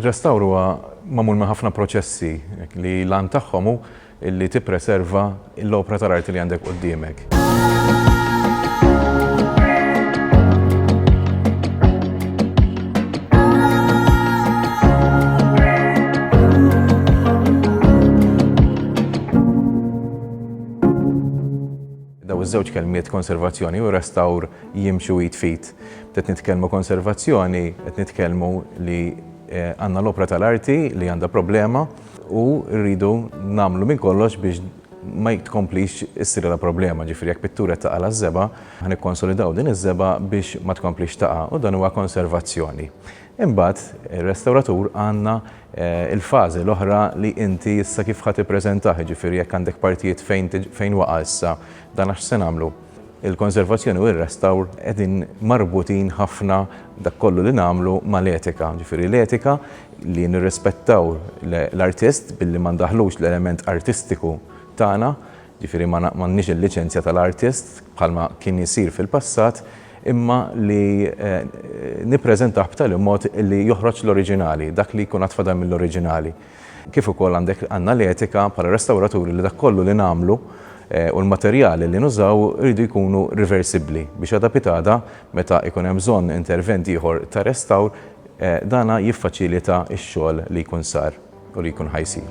Ir-restawr huwa magħmul minn ħafna proċessi li l-għan tagħhom hu li tippreserva l-opra tal-arti li għandek quddiemek. Dawn iż-żewġ kelmiet konservazzjoni u restawr jimxu id f'id. Qed nitkellmu konservazzjoni, qed nitkellmu li għandna l-opra tal-arti li għandha problema, U rridu nagħmlu minn kollox biex ma tkomplix issir għala problema. Ġifieri jekk pittur qed taqa' l-għaż-żebgħa, ħa nikkonsolidaw din iż-żebgħa biex ma tkomplix taqa', u dan huwa konservazzjoni. Imbagħad ir-restawratur għandna l-fażi l-oħra li inti issa kif ħa tippreżentah, jiġifieri jekk għandek partijiet fejn fejn waqa' issa, dan għax se nagħmlu? Il-konservazzjoni u r-restawr qegħdin marbutin ħafna dak kollu li nagħmlu mal-etika. Ġifieri l-etika li nirrispettaw l-artist billi ma ndaħħlux l-element artistiku tagħna, ġifieri ma m'għandniex il-liċenzja tal-artist bħalma kien isir fil-passat imma li nippreżentah b'tali mod li joħroġ l-oriġinali, dak li jkun għad fadal mill-oriġinali. Kif ukoll għandek għandna l-etika bħala restawraturi li dak kollu li nagħmlu u l-materjali li nużaw iridu jkunu riversibbli biex għada pitada meta jkun hemm bżonn intervent ieħor ta' restawr dan jiffaċilita x-xogħol li jkun sar u li jkun ħa jsir.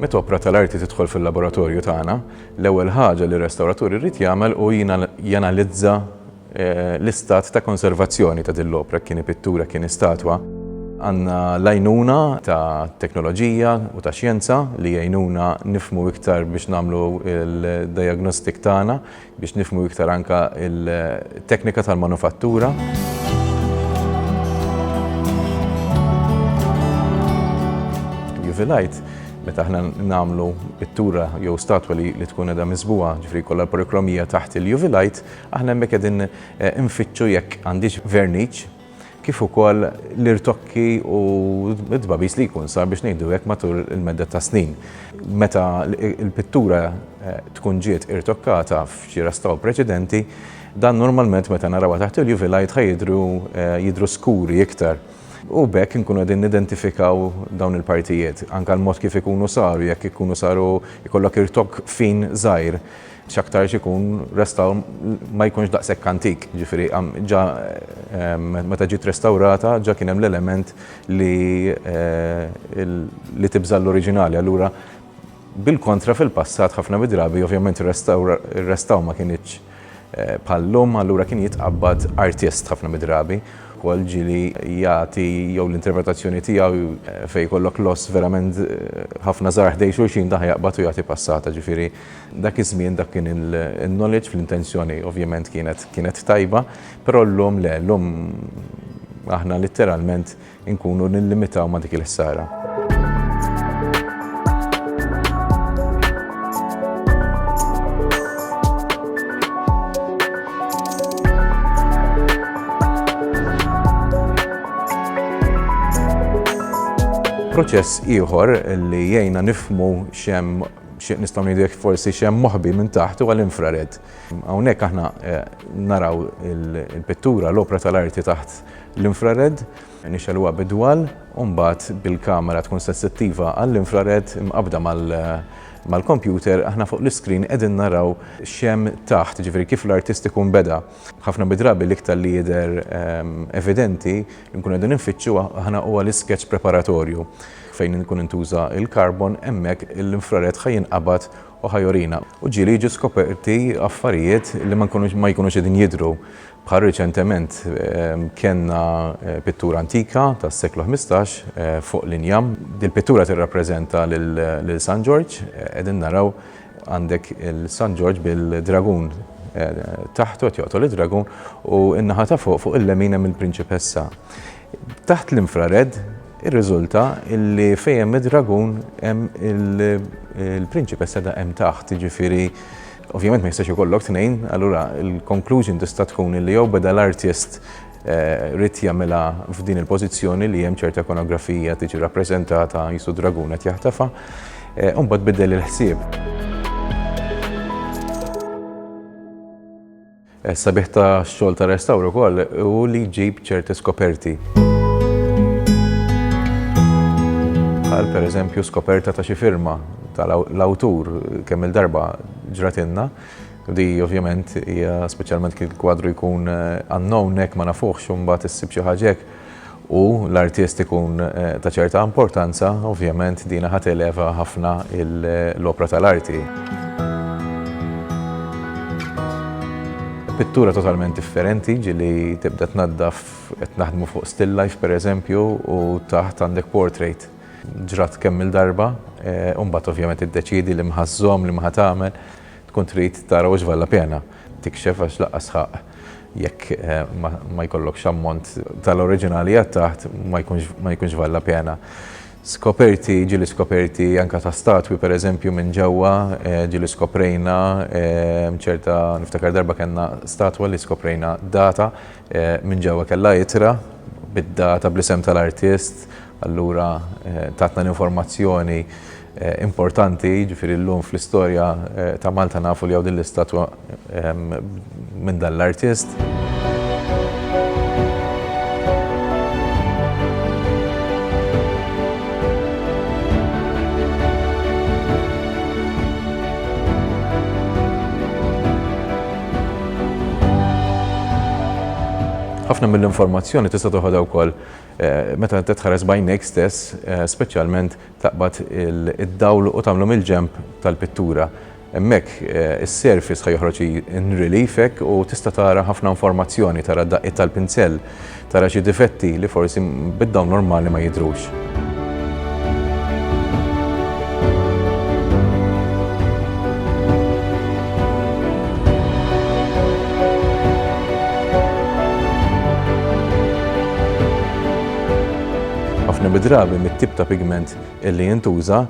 Meta opra tal-arti tidħol fil-laboratorju tagħna, l-ewwel ħaġa li r-restawratur irid jagħmel hu janalizza l-istat ta' konservazzjoni ta' din l-opra, jekk inhi pittura, jekk inhi statwa. Għandna l-għajnuna ta' teknoloġija u ta' xjenza li jgħinuna nifhmu iktar biex nagħmlu d-diagnostic tagħna, biex nifhmu iktar anke il-teknika tal-manufattura. Juvilite, meta aħna nagħmlu pittura jew statwa li tkun qiegħda miżbugħa, ġifieri jkollha l-polikromija taħt il-Juvilite, aħna hemmhekk qegħdin infittxu jekk għandhiex verniċ, kif ukoll l-irtokki u t-tbagħbis li jkun sar biex ngħidu hekk matul il-medda ta' snin. Meta l-pittura tkun ġiet irtokkata f'xi restaw preċedenti, dan normalment meta narawha taħt il-UV light ħa jidhru jidhru skuri iktar u b'hekk inkunu qegħdin nidentifikaw dawn il-partijiet, anke l-mod kif ikunu saru, jekk ikunu saru jkollok irtokk fin żgħir. X'aktarx ikun restawr ma jkunx daqshekk antik, jiġifieri ġa meta ġiet restawrata ġa kien hemm l-element li li tibża' l-oriġinali. Allura bil-kontra fil-passat ħafna mid-drabi ovvjament ir-restawr ma kinitx bħal-lum, allura kien jitqabbad artist ħafna mid-drabi wkoll ġieli jagħti jew l-interpretazzjoni tiegħu fejn jkollok loss verament ħafna żgħar ħdejn xulxin dan ħa jaqbad u jagħti passata, ġifieri. Dak iż-żmien dak kien il-knowledge fl-intenzjoni ovvjament kienet kienet tajba, però llum le, llum aħna litteralment inkunu nillimitaw ma' dik il-ħsara. Proċess ieħor li jgħinna nifhmu x'hemm Xi nistgħu ngħidu jekk forsi x'hemm moħbi minn taħt huwa l-infrared. Hawnhekk aħna naraw il-pittura, l-opra tal-arti taħt l-infrared, nixegħluha bid-dwal u mbagħad bil-kamera tkun sensittiva għall-infrared imqabbda mal-kompjuter aħna fuq l-iskrin qegħdin naraw x'hemm taħt, jiġifieri kif l-artist ikun beda. Ħafna mid-drabi l-iktar li jidher evidenti li nkunu qegħdin infittxu aħna huwa l-iskeċċ preparatorju. Fejn ikun intuża l-karbon, hemmhekk l-infrared ħa jinqabad u ħa jurina, u ġieli jiġu skoperti affarijiet li ma nkunux ma jkunux qegħdin jidhru. Bħal riċentement kellna pittura antika tas-seklu ħmistax fuq l-injam. Dil-pittura tirrappreżenta lil San Ġorġ. Qegħdin naraw għandek il-San Ġorġ bil-dragun taħtu qed joqtol id-dragun u n-naħa ta' fuq, fuq il-lemin hemm il-prinċipessa. Taħt l-infrared irriżulta li fejn hemm id-dragun hemm il-prinċipessa ta' hemm taħt, jiġifieri ovvjament ma jistax ikollok tnejn, allura l-conclusion tista' tkun li jew beda l-artist ried jagħmilha f'din il-pożizzjoni li hemm ċerta ikonografija tiġi rappreżentata qisu dragun qed jaħtafha, u mbagħad biddel il-ħsieb. Is-sabiħ ta' xogħol ta' restawr ukoll hu li jġib ċerti skoperti. Bħal pereżempju skoperta ta' xi firma ta' l-awtur kemm il-darba ġratilna. Di ovvjament hija speċjalment kif il-kwadru jkun unknown hekk ma nafuhx u mbagħad issib xi ħaġa hekk. u l-artist ikun ta' ċerta importanza, ovvjament dina ħa televa ħafna l-opra tal-arti. Pittura totalment differenti, ġieli tibda tnaddaf qed naħdmu fuq still life pereżempju u taħt għandek portrait. Ġrat kemm-il darba u mbagħad ovvjament iddeċiedi liema ħa żżomm, liema ħa tagħmel, tkun trid tara u x'valla pena. tikxef għax lanqas sħaq jekk ma jkollokx ammont tal-oriġinali għad taħt ma jkunx vale la pena. Skoperti, ġieli skoperti anke ta' statwi pereżempju minn ġewwa, ġieli skoprejna ċerta, niftakar darba kellna statwa li skoprejna data minn ġewwa kellha ittra bid-data bl-isem tal-artist, Allura tatna l-informazzjoni importanti, jiġifieri llum fl-istorja ta' Malta nafu li hawn din l-istatwa minn dan l-artist. Ħafna mill-informazzjoni tista' toħodha wkoll Meta inti tħares b'għajnejk stess, speċjalment taqbad id-dawl u tagħmlu mill-ġenb tal-pittura, hemmhekk is-surface ħa joħroġ in relief hekk u tista' tara ħafna informazzjoni, tara d-daqqiet tal-pinsell, tara xi difetti li forsi bid-dawl normali ma jidhrux. Ħafna mid-drabi mit-tip ta' pigment li jintuża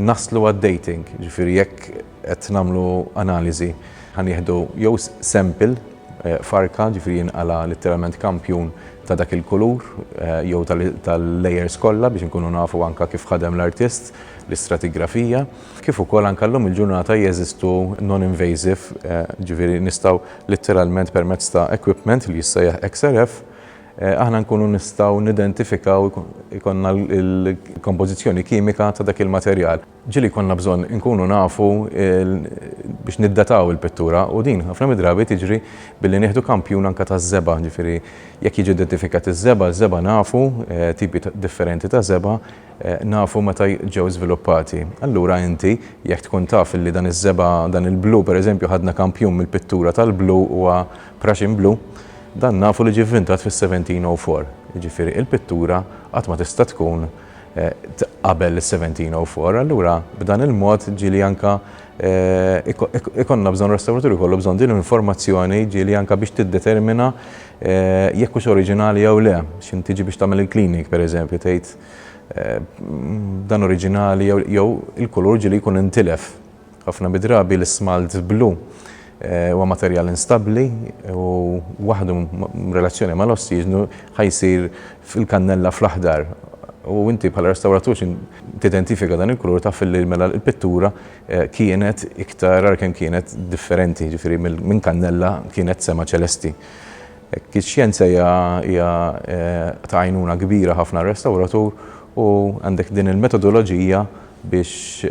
naslu għad-dating, jiġifieri jekk qed nagħmlu analiżi, ħa nieħdu jew sample, farka, ġifieri jinqala' litteralment kampjun ta' dak il-kulur jew tal-layers kollha biex inkunu nafu anke kif ħadem l-artist, l-istratigrafija. Kif ukoll anke llum il-ġurnata jeżistu non-invasive, ġifieri nistgħu litteralment permezz ta' equipment li jissejjaħ XRF aħna nkunu nistgħu nidentifikaw, ikollna l-kompożizzjoni kimika ta' dak il-materjal. Ġieli jkollna bżonn inkunu nafu biex niddataw il-pittura u din ħafna mid-drabi tiġri billi nieħdu kampjun anke taż-żebgħa, jiġifieri jekk jiġi identifikat iż-żebgħa, iż-żebgħa nafu, tipi differenti ta' żebgħa, nafu meta ġew żviluppati. Allura inti jekk tkun taf li dan iż-żebgħa, dan il-blu pereżempju ħadna kampjun mill-pittura tal-blu huwa Prussian Blue, dan nafu li ġie vvintat fis-1704, jiġifieri l-pittura qatt ma tista' tkun qabel is-1704, allura b'dan il-mod ġieli anke ikollna bżonn restawratur ikollu bżonn din l-informazzjoni ġieli anke biex tiddetermina jekk hux oriġinali jew le. X'int tiġi biex tagħmel il-cleaning pereżempju tgħid dan oriġinali jew il-kulur ġieli jkun intilef. Ħafna mid-drabi l-ismalt blu huwa materjal instabbli u waħdu b'relazzjoni mal-ossiġnu ħa jsir fil-kannella fl-aħdar u inti bħala restawratur xi tidentifika dan il-kulur taf li mela l-pittura eh, kienet iktar għalkemm kienet differenti, ġifieri minn kannella kienet sema ċelesti. Hekk ix-xjenza hija ta' għajnuna kbira ħafna għar-restawratur u għandek din il-metodoloġija biex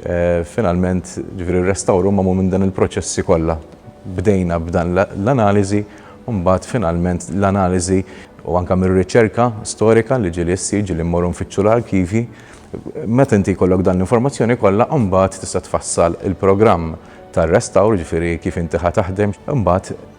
finalment, ġifieri r-restawr hu magħmul minn dan il-proċessi kollha. Bdejna b'dan l-analiżi u mbagħad finalment l-analiżi u anke mir-riċerka storika li ġieli ssir, ġieli mmorru nfittxu l-arkivji. Meta inti jkollok dan l-informazzjoni kollha mbagħad tista' tfassal il-programm tar-restawr, ġifieri kif inti ħa taħdem. Imbagħad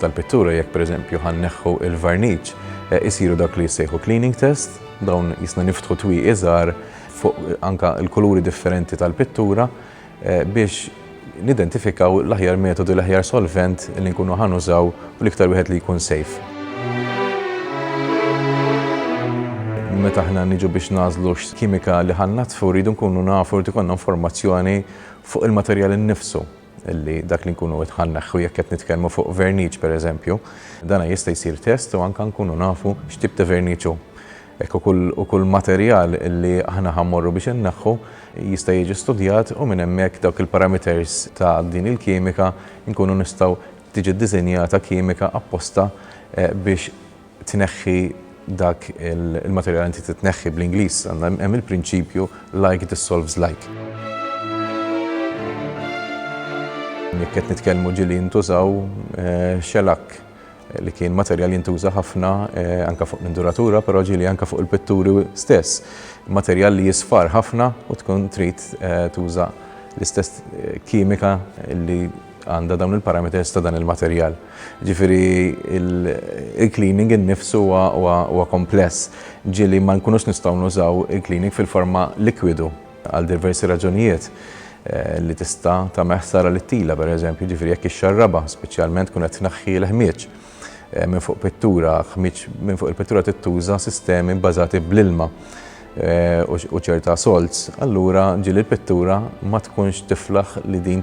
tal-pittura jekk pereżempju ħa nneħħu l-varniċ isiru dak li jissejħu cleaning test, dawn jisna niftħu twieqi żgħar fuq anke l-kuluri differenti tal-pittura eh, biex nidentifikaw l-aħjar metodu, l-aħjar solvent li nkunu ħanużaw u l-iktar wieħed li jkun safe. meta ħna niġu biex nażlu kimika li ħannatfu rridu nkunu nafu li konna informazzjoni fuq il-materjal innifsu. li dak li nkunu qed ħa nneħħu jekk qed nitkellmu fuq verniċ pereżempju, dan jista' jsir test u anke nkunu nafu x'tip ta' verniċ hu. Hekk ukoll u kull materjal li aħna ħa mmorru biex inneħħu jista' jiġi studjat u minn hemmhekk dawk il-parameters ta' din il-kimika nkunu nistgħu tiġi ddisinjata kimika apposta biex tneħħi dak il-materjal inti trid tneħħi bl-Ingliż għandna hemm il-prinċipju like dissolves like. Jekk qed nitkellmu ġieli jintużaw xelakk eh, li kien materjal jintuża ħafna eh, anka fuq l-induratura, però ġili anka fuq il-pitturi stess. Materjal li jisfar ħafna u tkun trid eh, tuża l-istess eh, kimika li għandha dawn il-parameters ta' dan il-materjal. Jiġifieri il-cleaning innifsu huwa kompless, ġieli ma nkunux nistgħu nużaw il-cleaning fil-forma likwidu għal diversi raġunijiet, li tista' tagħmel ħsara lit-tila, pereżempju, jiġifieri jekk ixxarrabha, speċjalment tkun qed tneħħi l-ħmieġ minn fuq pittura, ħmieġ minn fuq il-pittura trid tuża sistemi bbażati bl-ilma u ċerta salts, allura ġieli l-pittura ma tkunx tiflaħ li din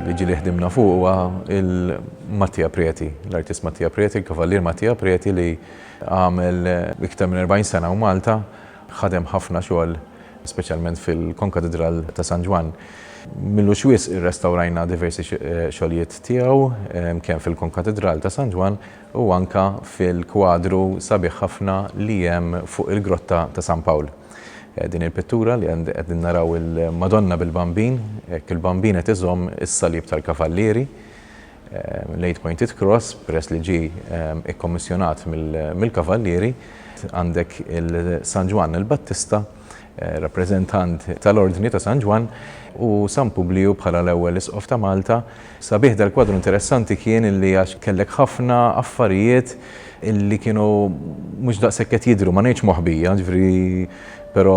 Il-liġi li ħdimna fuq huwa il-Mattia Preti, l-artist Mattia Preti, il-Kavallier Mattia Preti li għamel iktar minn 40 sena u Malta, ħadem ħafna xogħol speċjalment fil-Konkatidral ta' San Ġwann. M'ilux wisq irrestawrajna diversi xogħlijiet tiegħu kemm fil-Konkatidral ta' San Ġwann u anke fil-kwadru sabiħ ħafna li hemm fuq il-Grotta ta' San Pawl. Din il-pittura li qegħdin naraw il-Madonna bil-Bambin, hekk il-Bambin qed iżomm is-Salib tal-Kavallieri, l-Eight Pointed Cross, peress li ġie ikkommissjonat mill-Kavallieri. Għandek il-San Ġwann il-Battista rappreżentant tal-Ordni ta' San Ġwann, u San Publiju bħala l-ewwel Isqof ta' Malta. Sabiħ dal-kwadru interessanti kien illi għax kellek ħafna affarijiet illi kienu mhux daqshekk qed jidhru, ma ngħidx moħbija, jiġifieri però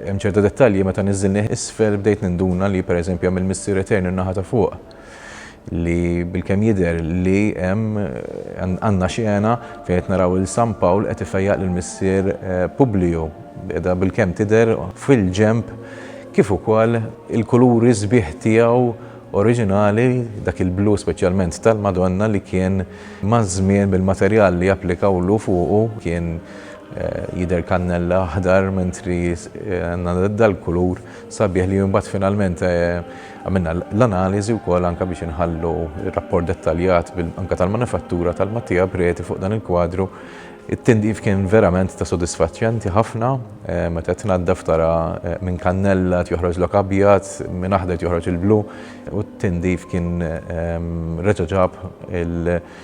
hemm ċerta dettalji meta niżżilni isfel bdejt ninduna li pereżempju hemm il-Missier Etern in-naħa ta' fuq. li bilkemm jidher li hemm għandna xena fejn qed naraw lil San Pawl qed ifejjaq lil missier Publiju qiegħda bilkemm tidher fil-ġenb kif ukoll il-kuluri sbieħ tiegħu oriġinali dak il-blu speċjalment tal-Madonna li kien maż-żmien bil-materjal li applikawlu fuqu kien jidher kannella aħdar mentri għandna dal-kulur sabiħ li mbagħad finalment Għamilna l-analiżi wkoll anke biex inħallu r-rapport dettaljat anke tal-manifattura tal-Mattia Preti fuq dan il-kwadru. It-tindif kien verament ta' sodisfaċenti ħafna, meta tnaddaf tara minn kannella qed joħroġlok abjad, minn aħdar qed joħroġ il-blu u t-tindif kien reġa' ġab il-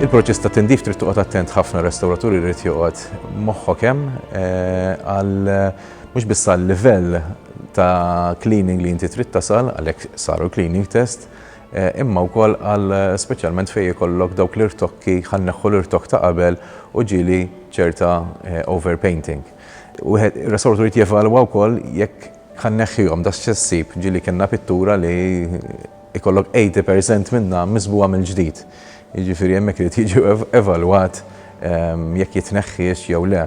Il-proċess ta' tindif trid toqgħod attent ħafna restawraturi jrid joqgħod moħħok hemm eh, għal mhux biss għal livell ta' cleaning li inti trid tasal għalhekk saru cleaning test, imma wkoll għal speċjalment fejn ikollok dawk l-irtokki ħa nneħħu l-irtokk ta' qabel u ġieli ċerta overpainting. Wieħed ir-restawratur irid jevalwa wkoll jekk ħa nneħħihom da x'se ssib, ġieli kellna pittura li jkollok 80 percent minnha miżbugħa mill-ġdid. Jiġifieri hemmhekk irid jiġi evalwat jekk jitneħħiex jew le.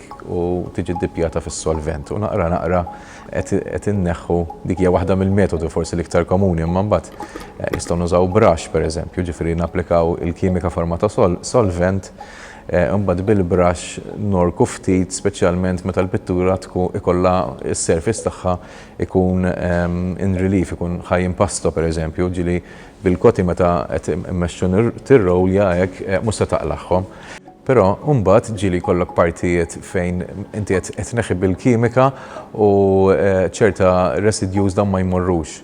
u tiġi ddippjata fis-solvent u naqra naqra qed inneħħu dik hija waħda mill-metodi forsi l-iktar komuni imma mbagħad eh, nistgħu nużaw brush pereżempju, ġifieri napplikaw il-kimika forma ta' solvent eh, imbagħad bil-brush norku ftit speċjalment meta l-pittura tkun ikollha s-surface tagħha ikun ehm, in relief, ikun ħaj impasto pereżempju, ġili bil-koti meta qed immexxu tirrowlja hekk eh, mhux se taqlagħhom. Però mbagħad ġieli jkollok partijiet fejn inti qed qed tneħħi bil-kimika u ċerta residjus dawn ma jmorrux.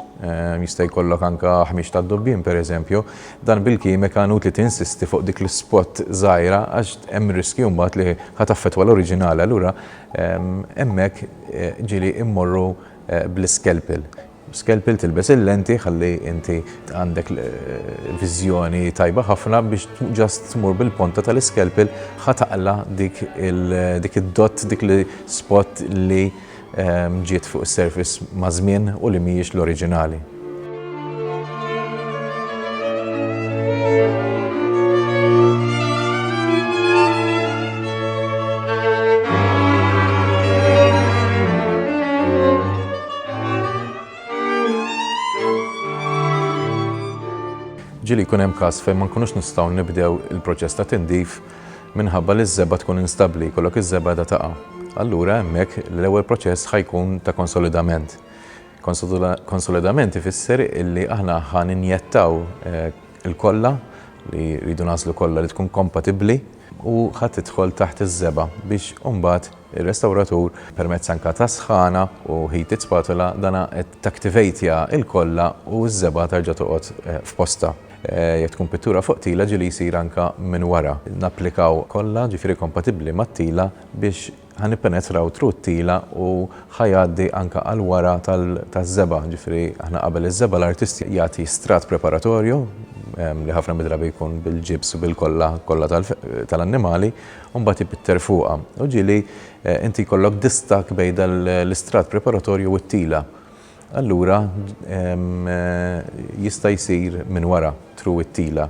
Jista' jkollok anke ħmieġ tad-dubbien pereżempju. Dan bil-kimika inutli tinsisti fuq dik l-ispot żgħira għax hemm riskju mbagħad li ħa taffettwa l-oriġinali allura hemmhekk ġieli mmorru bl-iskelpel. B'skelpil tilbes il-lenti ħalli inti għandek viżjoni tajba ħafna biex ġast tmur bil-ponta tal-iskelpil ħa taqla dik dik id-dott dik li spot li ehm, ġiet fuq is-surface ma' żmien u li mhijiex l-oriġinali. Ġieli jkun hemm każ fejn ma nkunux nistgħu nibdew il-proċess ta' tindif minħabba li ż-żebgħa tkun instabbli, jkollok iż-żebgħa qiegħda taqa'. Allura hemmhekk l-ewwel proċess ħa jkun ta' konsolidament. Konsolidament ifisser illi aħna ħa ninjettaw il-kolla li rridu nagħżlu kolla li tkun kompatibbli, u ħa tidħol taħt iż-żebgħa biex imbagħad ir-restawratur permezz anke ta' sħana u heated spatula dana qed taktivatja l-kolla u ż-żebgħa terġa' toqgħod f'postha. Jekk tkun pittura fuq tila ġieli jsir anke minn wara. Napplikaw kolla, ġifieri kompatibbli mat-tila biex ħa nippenetraw truttila u ħa jgħaddi anke għal wara taż-żebgħa, ġifieri aħna qabel iż-żebgħa l-artist jagħti strat preparatorju li ħafna mid-drabi jkun bil-ġibs u bil-kolla kollha tal-annimali u mbagħad jpitter fuqha. U ġieli inti jkollok distakk bejn dan l-istrat preparatorju u t-tila. Allura jista' jsir minn wara through it-tila.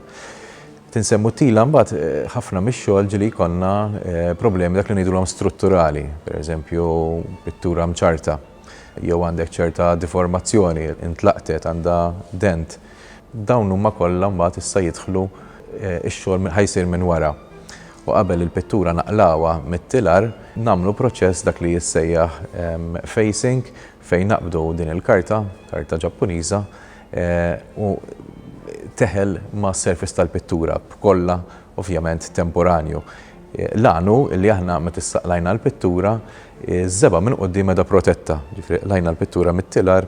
Tinsemmu t-tila mbagħad ħafna mix-xogħol ġieli jkollna problemi dak li ngħidulhom strutturali, pereżempju pittura mċarrta jew għandek ċerta diformazzjoni, intlaqtet, għandha dent. Dawn huma kollha mbagħad issa jidħlu x-xogħol ħa jsir minn wara u qabel il-pittura naqlgħuha mit-tilar nagħmlu proċess dak li jissejjaħ facing Fejn naqbdu din il-karta, karta Ġappuniża, hu teħel mas-surface tal-pittura b'kollha ovvjament temporanju. L-għan hu li aħna meta issa qlajna l-pittura, iż-żebgħa minn quddiem qiegħda protetta, jiġifieri qlajna l-pittura mit-tilar,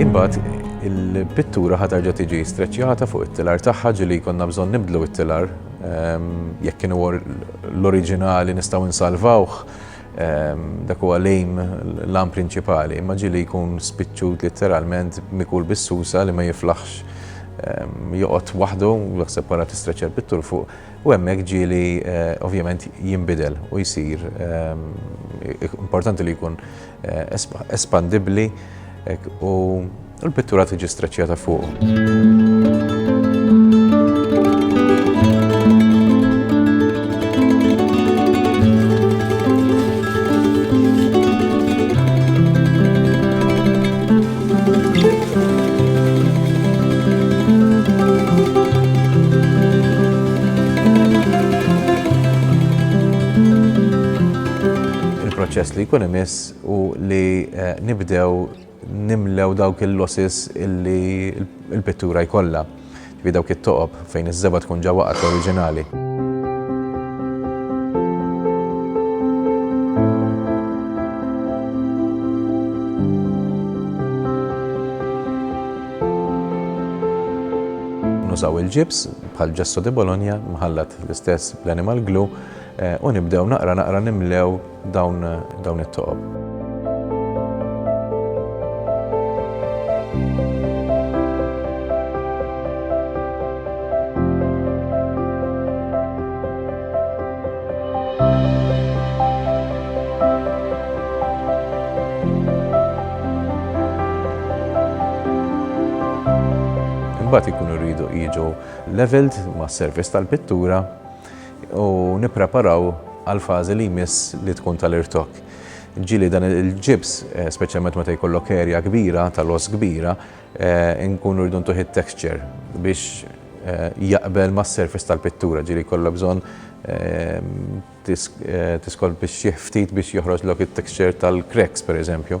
Imbagħad il-pittura ħatarġa tiġi streċjata fuq it-tilar tagħha ġili konna bżonn nibdlu it-tilar ehm, jekk kienu l-oriġinali nistgħu nsalvawh ehm, dak huwa lejm l-am prinċipali, imma ġili jkun spiċċut litteralment mikul bis-susa li ma jiflaħx ehm, joqgħod waħdu, jaħseb wara tistreċja l-pittur fuq U hemmhekk ġieli ovvjament jinbidel u jsir importanti li jkun espandibbli u l-pittura tiġi streċċjata fuq. Il-proċess li jkun imiss u li eh, nibdew nimlew dawk il-losses illi il-pittura jkollha. Ġifieri dawk it-toqob fejn iż-żebgħa tkun ġa waqgħet oriġinali. Nużaw il-ġibs bħal ġesso di Bologna mħallat l-istess bl-animal glue u nibdew naqra naqra nimlew dawn it-toqob. Imbagħad ikunu rridu jiġu leveled mas-servizz tal-pittura u nippreparaw għall-fażi li jmiss li tkun tal-irtokk. Ġieli dan il-ġibs, eh, speċjalment meta jkollok erja kbira, tal-oss kbira, eh, nkunu rridu ntuħ it-texture biex eh, jaqbel ma' surface tal-pittura, ġieli jkollok bżonn tiskol biex jihftit biex joħroġ lok it-texture tal-cracks, per eżempju.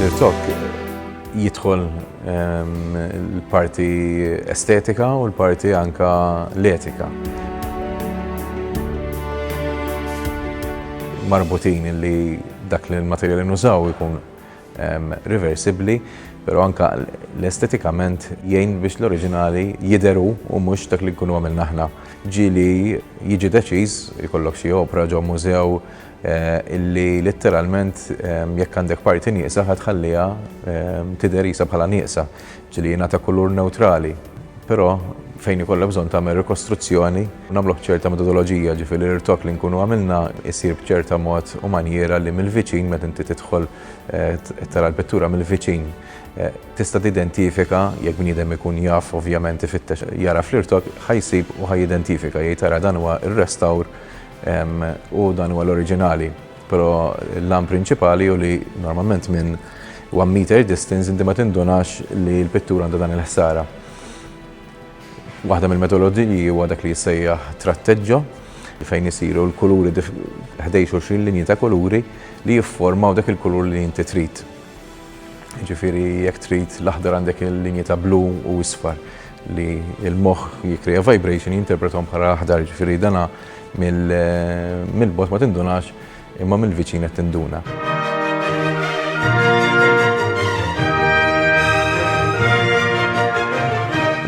Nirtok jidħol ehm, l-parti estetika u l-parti anka l-etika. Marbutin li dak li l-materjal li nużaw ikun ehm, reversibli, pero anka l-estetikament jgħin biex l-oriġinali jideru u mux dak li nkunu għamil naħna. Ġili jiġi deċiż, jkollok xie opra ġo mużew illi litteralment jekk għandek parti nieqsa ħa tħalliha tidher qisha bħala nieqsa, ġieli jingħata kulur newtrali. Però fejn ikollha bżonn tagħmel rikostruzzjoni, nagħmluh b'ċerta metodoloġija, ġifieri l-irtok li nkunu għamilna jsir b'ċerta mod u manjiera li mill-viċin meta inti tidħol tara l-pittura mill-viċin tista' tidentifika jekk bniedem ikun jaf ovvjament ifittex jara fl-irtok ħa jsib u ħa jidentifika jgħid ara dan huwa r-restawr U dan huwa l-oriġinali, però l-għan prinċipali hu li normalment minn one meter distance inti ma tindunax li l-pittura għandha dan il-ħsara. Waħda mill-metodoloġiji huwa dak li jissejjaħ tratteġġo fejn isiru l-kuluri ħdej xulxin linji ta' kuluri li jifformaw dak il-kulur li inti trid. Jiġifieri jekk trid l-aħdar għandek il-linji ta' blu u isfar li l-moħħ jikkrea vibration jinterpretom bħala aħdar, jiġifieri dana mill-bot ma tindunax imma mill-viċin qed tinduna.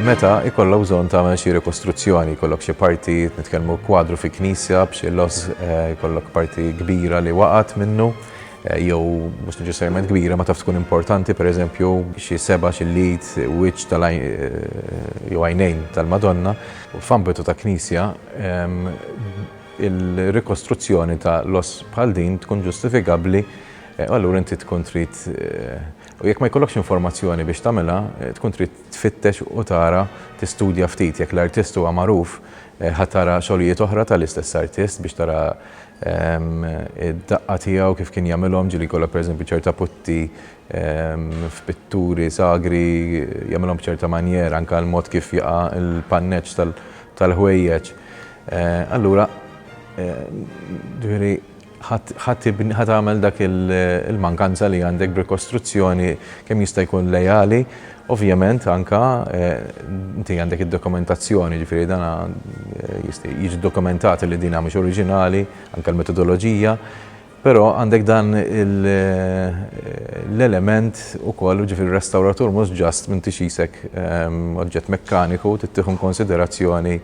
Meta ikollok bżonn tagħmel xi rikostruzzjoni, jkollok xi parti nitkellmu kwadru fi knisja b'xi loss, eh, jkollok parti kbira li waqgħet minnu, jew mhux neċessarjament kbira, ma taf tkun importanti, pereżempju, xi seba', xi l-id, wiċċ jew għajnejn tal-Madonna. F'ambitu ta' knisja, il-rikostruzzjoni ta' loss bħal din tkun ġustifikabbli, u allura inti tkun trid, u jekk ma jkollokx informazzjoni biex tagħmilha, tkun trid tfittex u tara, tistudja ftit. Jekk l-artist huwa magħruf, ħa tara xogħlijiet oħra tal-istess artist biex tara Id-daqqa tiegħu kif kien jagħmilhom, ġieli jkollha pereżempju ċerta putti f'pitturi sagri, jagħmilhom b'ċerta manjera, anke l-mod kif jaqa' l-panneġġ tal-ħwejjeġ. Allura, ġifieri, ħa tibni, ħa tagħmel dak il-mankanza li għandek b'rikostruzzjoni kemm jista' jkun leali Ovvjament anke inti għandek id-dokumentazzjoni, jiġifieri dan jiġi ddokumentat li din mhix oriġinali, anke l-metodoloġija, però għandek dan l-element ukoll, jiġifieri r-restawratur mhux just m'intix qisek oġġett mekkaniku, trid tieħu inkunsiderazzjoni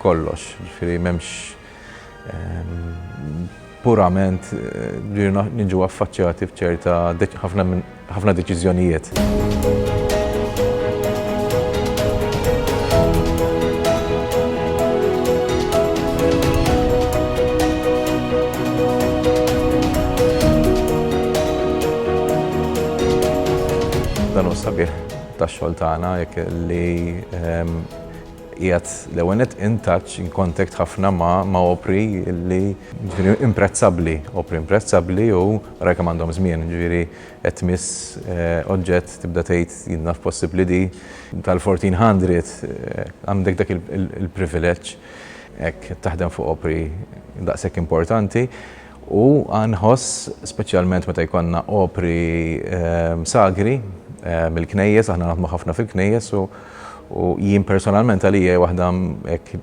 kollox, jiġifieri m'hemmx, purament ġirna niġu affaċċjati f'ċerta ħafna deċiżjonijiet. Dan hu s-sabiħ tax-xogħol tagħna jekk li Qiegħed l-ewwel nett in touch, in contact ħafna ma' ma' opri li jiġifieri imprezzabbli, opri imprezzabbli u ara kemm għandhom żmien, jiġifieri qed tmiss oġġett tibda tgħid jien naf possibbli di tal-fourteen hundred għandek dak il-privileġġ hekk qed taħdem fuq opri daqshekk importanti u nħoss speċjalment meta jkollna opri sagri mill-knejjes, aħna naħdmu ħafna fil-knejjes u U jien personalment għalija hija waħda hekk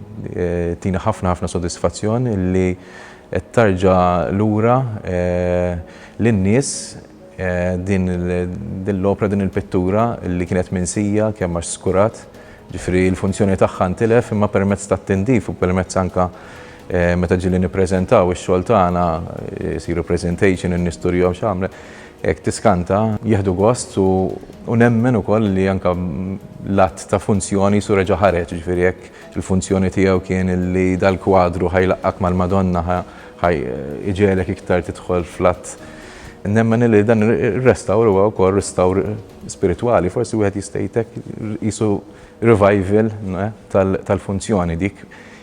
tina ħafna ħafna sodisfazzjon li qed tarġa' lura lin-nies din l-opra, din il-pittura li kienet minsija kemm għax skurat, ġifieri l-funzjoni tagħha ntilef imma permezz tat-tindif u permezz anke meta ġieli nippreżentaw ix-xogħol tagħna, isiru presentation, in-nies turihom x'għamlet, Hekk tiskanta, jieħdu gost u nemmen ukoll li anke l-att ta' funzjoni qisu reġa' ħareġ, jiġifieri jekk il-funzjoni tiegħu kien li dal-kwadru ħa jlaqqgħek mal-Madonna, ħa jġegħlek iktar tidħol fl-att. Nemmen li dan ir-restawr huwa wkoll restawr spiritwali, forsi wieħed jista' jgħid hekk, qisu revival tal-funzjoni dik.